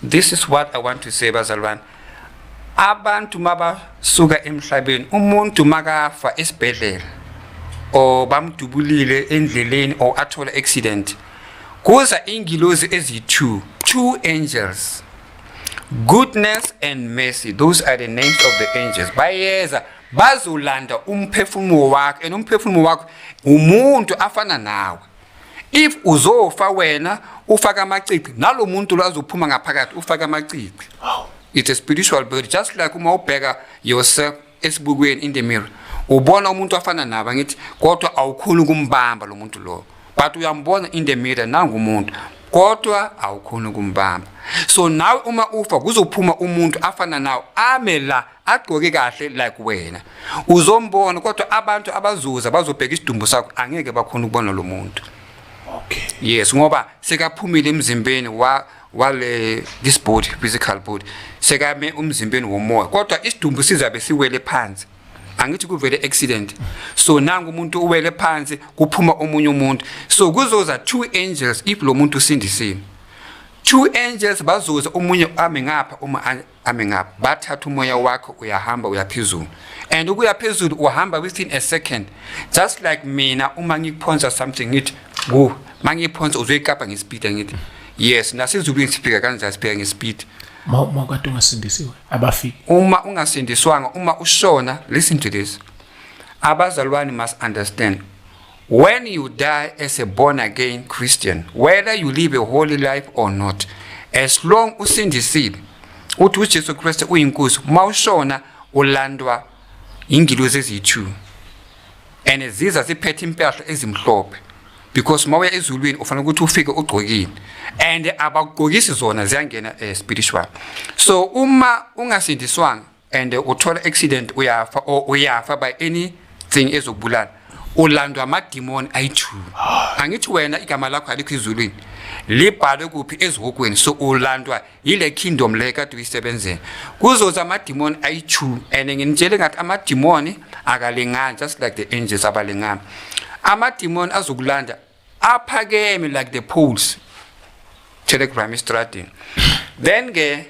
this is what i want to say bazalwane abantu mabasuka emhlabeni umuntu makafa esibhedlela or bamdubulile endleleni or athola accident kuza ingilozi eziyi-two two angels goodness and mercy those are the names of the angels bayeza bazolanda umphefumulo wakho and umphefumulo wakho umuntu afana nawe if uzofa wena ufaka amacici nalo muntu lo azophuma ngaphakathi ufaka amacici it's a spiritual bird just like uma ubheka yourself esibukweni in the mirror ubona umuntu afana nabo ngithi kodwa awukhuni ukumbamba lo muntu lowo but uyambona in the mirror nangumuntu kodwa awukhuni ukumbamba so nawe uma ufa kuzophuma umuntu afana nawo ame la agqoke kahle like wena uzombona kodwa abantu abazuza bazobheka isidumbu sakho angeke bakhona ukubona lo muntu okay yes ngoba sekaphumile emzimbeni wa wale this body physical body sekame umzimbeni womoya kodwa isidumbu sizabe siwele phansi angithi kuvele accident so nangu umuntu uwele phansi kuphuma omunye umuntu so kuzoza two angels if lo muntu usindisile two angels bazoza omunye ame ngapha uma coming up bathatha umoya wakho uyahamba uyaphezulu and ukuya phezulu uhamba within a second just like mina uma ngiphonsa something ngithi ku mangiphonsa uzoyikapa ngespeed ngithi yes nasezulwini siphika kanjani siphika ngespeed uma kade ungasindisiwe abafiki uma ungasindiswanga uma ushona listen to this abazalwane must understand When you die as a born again Christian, whether you live a holy life or not, as long usindisile uthi uJesu Kristu uyinkosi uma ushona ulandwa ingilozi eziyi-2 and ziza ziphethe impahla ezimhlophe because uma uya ezulwini ufanele ukuthi ufike ugcokile and abagqokisi zona ziyangena um spiritual so uma ungasindiswanga and uthola accident uyafa or uyafa by anything ezokubulala ulandwa amadimoni ayi-two angithi wena igama lakho alikho izulwini libhalwe kuphi ezihokweni so ulandwa yile kingdom le kade uyisebenzela kuzoza amadimoni ayi-two and nginitshele ngathi amadimoni akalingani just like the angels abalingani amadimoni azokulanda aphakeme like the pools telegram istradini then ke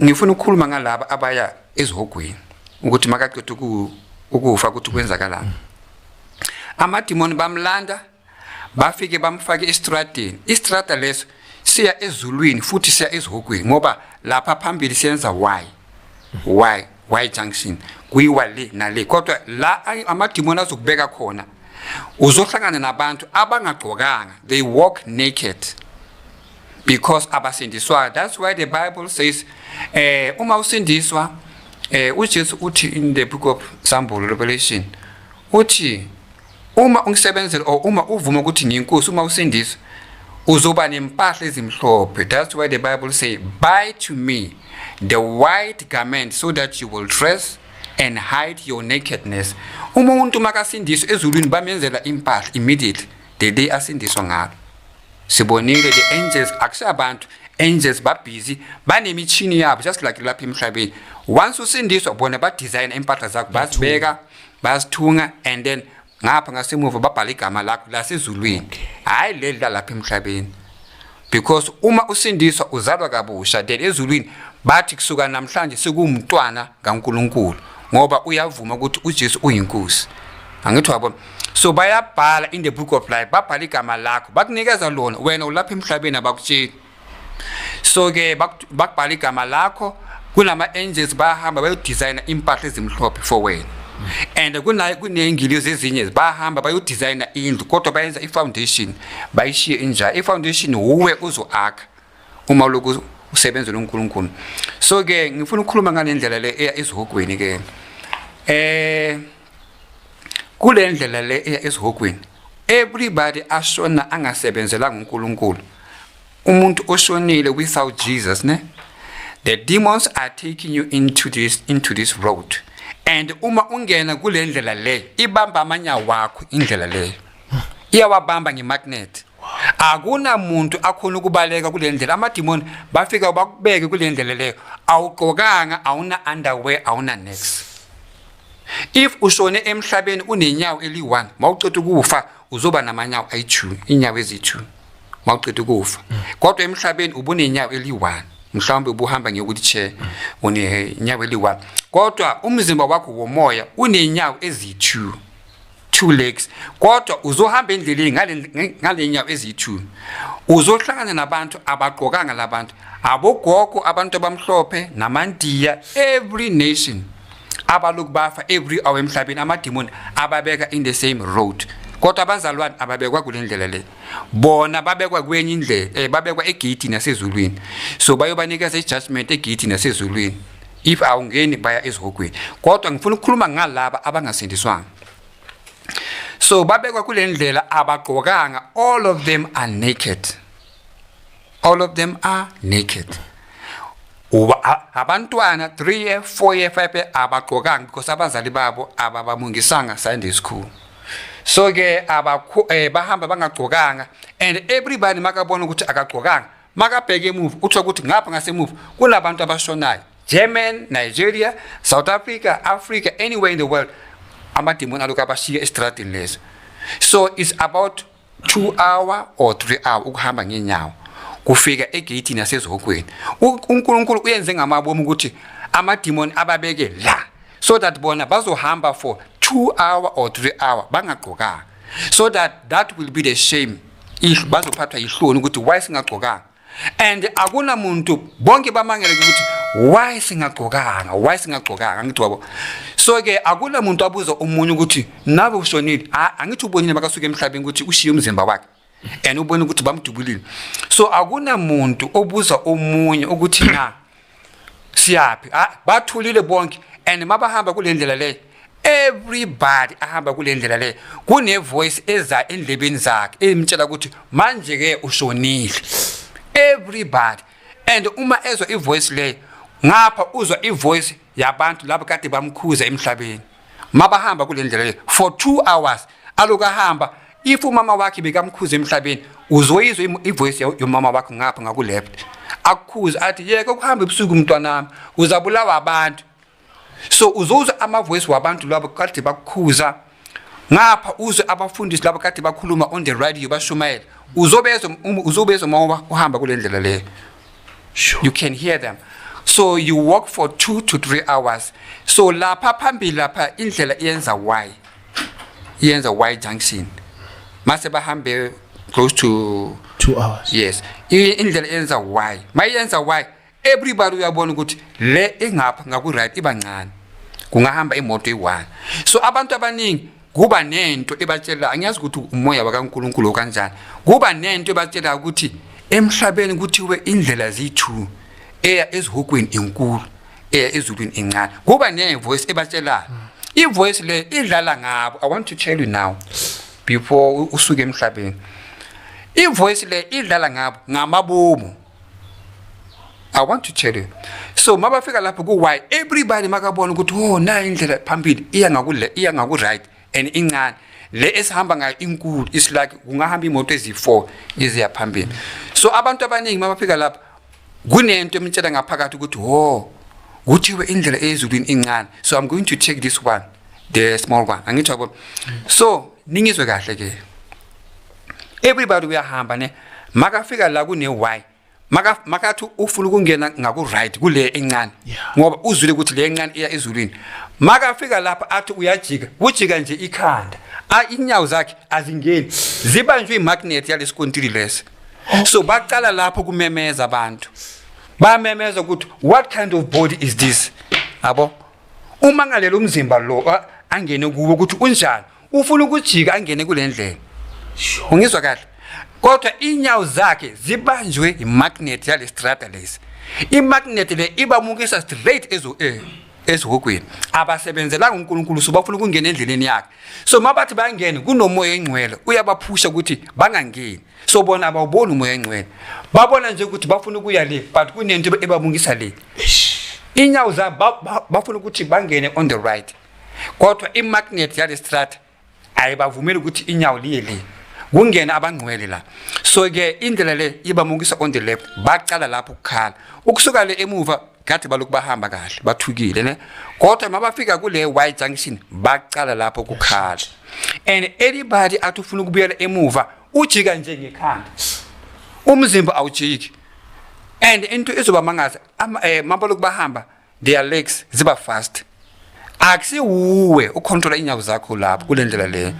ngifuna ukukhuluma ngalaba abaya ezihogweni ukuthi makaqeda ukufa ukuthi kwenzakalani amadimoni bamlanda bafike bamfake estradini istrada leso siya ezulwini futhi siya ezihogweni ngoba lapha phambili siyenza why why y junction kuyiwa le nale kodwa la amadimoni azokubeka khona uzohlangana nabantu abangagqokanga they walk naked because abasindiswayo that's why the bible says eh uma usindiswa eh uJesu uthi in the book of Sambulo Revelation uthi Uma ungisebenzela or uma uvuma ukuthi ngiyinkosi uma usindisa uzoba nempahla ezimhlophe that's why the bible say buy to me the white garment so that you will dress and hide your nakedness uma umuntu makasindiswa ezulwini bamenzela impahla immediately the day asindiswa ngalo sibonile the angels akusabantu angels babhizi banemishini yabo just like lapha emhlabeni once usindiswa bona badesign impahla zakho bazibeka basithunga and then ngapha ngasemuva babhala igama lakho lasezulwini hayi leli lalapha emhlabeni because uma usindiswa uzalwa kabusha then ezulwini bathi kusuka namhlanje sikumntwana kaNkuluNkulu ngoba uyavuma ukuthi uJesu uyinkosi angithi wabo so bayabhala in the book of life babhala igama lakho bakunikeza lona wena ulapha emhlabeni abakutsheli so ke bakubhala igama lakho kunama-angels bayahamba bayodizayina impahla ezimhlophe for wena and kuney'ngilizi ezinye bayahamba bayodizayina indlu kodwa bayenza i-foundation bayishiye injalo i-foundation wuwe uzo-akha uma loku usebenzela unkulunkulu so-ke ngifuna ukukhuluma ngale ndlela le eya ezihogweni-ke um eh, kule ndlela le eya esihogweni everybody ashona angasebenzelanga uNkulunkulu umuntu oshonile without Jesus ne the demons are taking you into this into this road and uma ungena kule ndlela leyo ibamba amanya wakho indlela leyo iyawabamba ngemagnet akunamuntu akhona ukubaleka kule ndlela amadimoni bafika bakubeke kule ndlela leyo awugqokanga awuna underwear awuna next if ushone emhlabeni unenyawo eli-one mawuceda ukufa uzoba namanyawo ayi-two inyawo ezi-two mawuceda ukufa mm. kodwa emhlabeni ubunenyawo eli-one mhlawumbe ubuhamba ngekuthi che unenyawo eli-one kodwa umzimba wakho womoya unenyawo ezi-two two legs kodwa uzohamba endleleni ngalenyawo eziyi-two uzohlangana nabantu abagqokanga labantu abogogo abantu abamhlophe namandiya every nation abaloku bafa every hour emhlabeni amadimoni ababeka in the same road kodwa abazalwane ababekwa kule ndlela le bona babekwa kwenye indlela um babekwa egeyithini yasezulwini so bayobanikeza i-judgment egeyithini yasezulwini if awungeni baya ezihogweni kodwa ngifuna ukukhuluma ngalaba abangasindiswanga so babekwa kule ndlela abagqokanga all of them are naked all of them are naked abantwana 3 year 4 year 5 year abagqokanga because abazali babo ababamungisanga sunday school so ke abakho eh, bahamba bangagqokanga and everybody makabona ukuthi akagqokanga makabheke emuva uthola ukuthi ngapha ngasemuva kunabantu abashonayo german nigeria south africa africa anywhere in the world amadimoni alokhu abashiye esitradini leso so it's about two hour or three hour ukuhamba ngenyawo kufika egeyithini yasezihokweni unkulunkulu uyenze ngamabomi ukuthi amadimoni ababeke la so that bona bazohamba for two hour or three hour bangagqokanga so that that will be the shame bazophathwa yihloni ukuthi why singagcokanga and akunamuntu bonke bamangele ukuthi why singagcokanga why singagcokanga angithi wabo so ke akula muntu abuza umunye ukuthi nabe ushonile angithi ubonile makasuka emhlabeni ukuthi ushiye umzimba wakhe and ubona ukuthi bamdubulile so akunamuntu obuza omunye ukuthi na siyaphi ah, bathulile bonke and mabahamba kule ndlela leyo everybody ahamba kule ndlela leyo kunevoice eza endlebeni zakhe emtshela ukuthi manje-ke ushonile everybody and uma ezwa ivoice leyo ngapha uzwa ivoice yabantu laba kade bamkhuza emhlabeni mabahamba kule ndlela le for two hours aloku ahamba if umama wakhe bekamkhuza emhlabeni uzoyizwa ivoice yomama wakho ngapha ngakuleft akukhuza athi yeke ukuhamba ebusuku mntwanami uzabulawa abantu so uzozwa amavoice wabantu lwabo kade bakukhuza ngapha uzwe abafundisi laba kade bakhuluma on the radio bashumayela uzobezwa um, uzobezwa uma uhamba kule ndlela leyo you can hear them so you walk for two to three hours so lapha phambili lapha indlela iyenza y iyenza y junction mase bahambe close to two hours yes indlela iyenza y mayenza y everybody uyabona ukuthi le engapha ngaku right iba ncane kungahamba imoto eyi-one so abantu abaningi kuba nento ebatshela angiyazi ukuthi umoya wakaNkuluNkulu kanjani kuba nento ebatshela ukuthi emhlabeni kuthiwe indlela ziyi-two eya ezihokweni enkulu eya ezulwini encane kuba nevoice ebatshelayo ivoice le idlala ngabo i want to tell you now before usuke emhlabeni ivoice le idlala ngabo ngamabomu I want to tell you. So mabafika lapho ku why everybody makabona ukuthi oh na indlela phambili iya ngakule iya ngaku right and incane. Le esihamba ngayo inkulu is like kungahamba imoto ezi4 iziya phambili. So abantu abaningi mabafika lapho kunento emtshela ngaphakathi ukuthi oh kuthiwe indlela eyezulwini incane. So I'm going to take this one the small one. Angithobo. So ningizwe kahle ke. everybody uyahamba ne makafika la kune why maka makathi ufuna ukungena ngaku right kule encane ngoba uzwile ukuthi le encane iya ezulwini makafika lapha athi uyajika ujika nje ikhanda a inyawo zakhe azingeni zibanjwe imagnet yalesikontiri lesi so baqala lapho kumemeza abantu bamemeza ukuthi what kind of body is this abo uma ngalela umzimba lo angene kuwo ukuthi unjani ufuna ukujika angene kule ndlela ungizwa kahle kodwa inyawo zakhe zibanjwe yimagnet yale strata lesi imagnet le ibamukisa straight ezo eh ezihogweni abasebenzelanga uNkulunkulu so bafuna ukungena endleleni yakhe so mabathi bangene kunomoya engcwele uyabaphusha ukuthi bangangeni so bona abawuboni umoya engcwele babona nje ukuthi bafuna ukuya le but kunento ebabungisa le inyawo zabo bafuna ukuthi bangene on the right kodwa imagnet yale strata ayibavumeli ukuthi inyawo liye le kungena abangcwele la so ke indlela le ibamukisa on the left baqala lapho ukukhala ukusuka le emuva ngathi balokhu bahamba kahle bathukile ne kodwa mabafika kule y junction baqala lapho ukukhala and anybody athi ufuna ukubuyela emuva ujika nje ngekhanda umzimba awujiki and into izoba mangaza eh, mabaloku bahamba their legs ziba fast akusiwuwe ucontrola inyawo zakho lapho kule ndlela leyo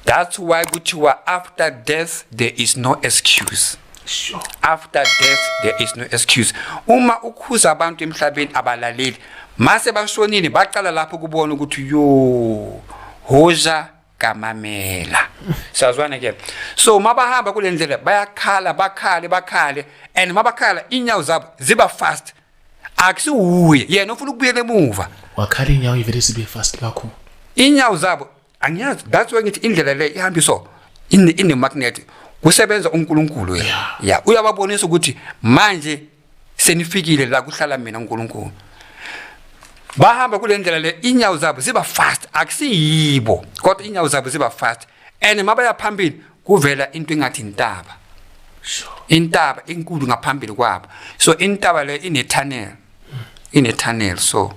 that's why kuthiwa after death there is no excuse sure. after death there is no excuse uma ukhuza abantu emhlabeni abalaleli mase bashonile baqala lapho kubona ukuthi yo hoza kamamela siyazwana ke so uma bahamba kule ndlela bayakhala bakhale bakhale and uma bakhala inyawo zabo ziba fast akusiwuye yena ufuna ukubuyela emuva wakhala inyawo ivele sibe fast kakhulu inyawo zabo angiyazi that's why ngithi indlela le ihamba so in in the magnet kusebenza uNkulunkulu yena ya uyababonisa ukuthi manje senifikile la kuhlala mina uNkulunkulu bahamba kule ndlela le inyawo zabo ziba fast akusiyibo kodwa inyawo zabo ziba fast and mabaya phambili kuvela into engathi intaba intaba inkulu ngaphambili kwabo so intaba le ine tunnel ine tunnel so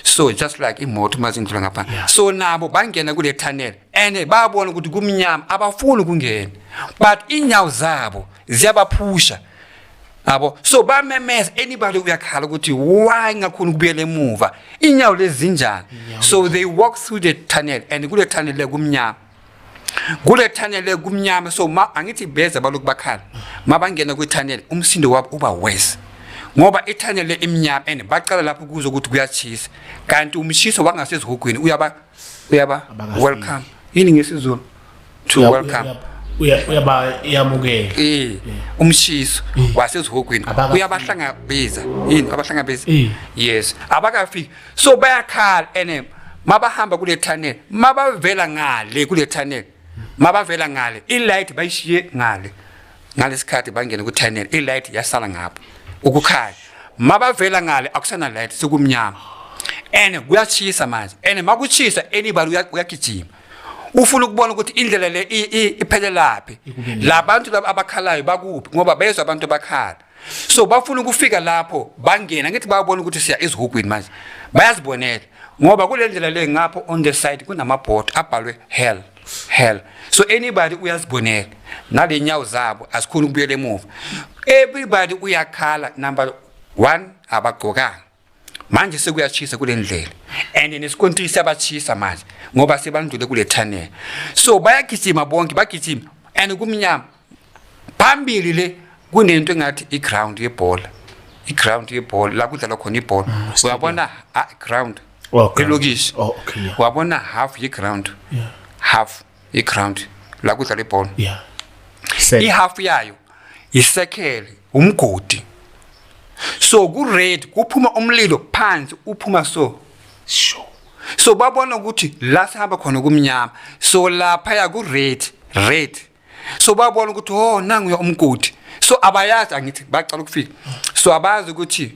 so just like imoto mazindlula ngapha yeah. so nabo bangena kule tunnel and babona ukuthi kumnyama abafuni ukungena but inyawo zabo ziyabaphusha abo so bamemeza anybody uyakhala ukuthi why ngakhona ukubuyela emuva inyawo lezinjani so they walk through the tunnel and kule tunnel le kumnyama kule tunnel le kumnyama so ma angithi beza balokhu bakhala mabangena kwi tunnel umsindo wabo uba worse ngoba ithanyele imnyama and bacala lapho kuzo ukuthi kuyachisa kanti umshiso wangasezihogweni uyaba uyaba welcome yini ngesizulu to welcome uyabuyamukela eh umshiso wasezihogweni uyabahlangabeza yini abahlangabeza yes abakafiki so bayakhala ene mabahamba kule tunnel mabavela ngale kule tunnel mabavela ngale ilight bayishiye ngale ngalesikhathi bangene ku tunnel ilight yasala ngapha ukukhanya mabavela ngale akusana light sekumnyama and kuyachisa manje and makuchisa anybody uyagijima ufuna ukubona ukuthi indlela le iphelelaphi labantu laba abakhalayo bakuphi ngoba bezwa abantu bakhala so bafuna ukufika lapho bangena ngithi bayabona ukuthi siya ezihugwini manje bayazibonela ngoba kule ndlela le ngapho on the side kunamabhodi abhalwe hell hell so anybody uyazibonela nale nyawo zabo asikhona ukubuyela emuva everybody uyakhala number one abagqokanga manje sekuyashisa kule ndlela and nesikontiri siyabashisa manje ngoba sebandlule kule tunnel so bayagijima bonke bagijima and kumnyama phambili le kunento engathi i-ground yebhola i-ground yebhola la kudlalwa khona ibhola mm, uyabona ah, ground elokishi oh, wabona half ye-ground half iground la kudlala ibhola yeah ihalf yayo isekhele umgodi so ku red kuphuma umlilo phansi uphuma so sure so babona ukuthi la sihamba khona kumnyama so lapha ya ku red red so babona ukuthi oh nangu umgodi so abayazi angithi bacala ukufika so abazi ukuthi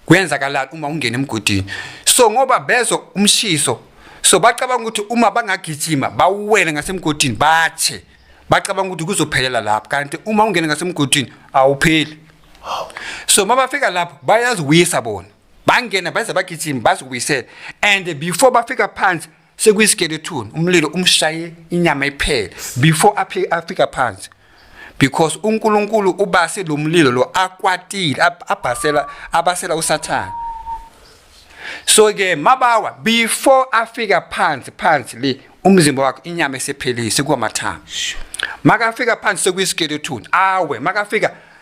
kuyenzakalani uma ungena emgodini so ngoba bezwa umshiso so bacabanga ukuthi uma bangagijima bawuwele ngasemgodini bathe bacabanga ukuthi kuzophelela lapho kanti uma ungena ngasemgodini awupheli so uma bafika lapho bayaziwisa bona bangena baze bagijima baziwisele and before bafika phansi sekuyisikeleton umlilo umshaye inyama iphele before afika phansi because uNkulunkulu ubase lo mlilo lo akwatile abhasela abasela usathana so ke mabawa before afika phansi phansi le umzimba wakho inyama esephelise kuwamathanga makafika phansi sekuyisikeleton awe makafika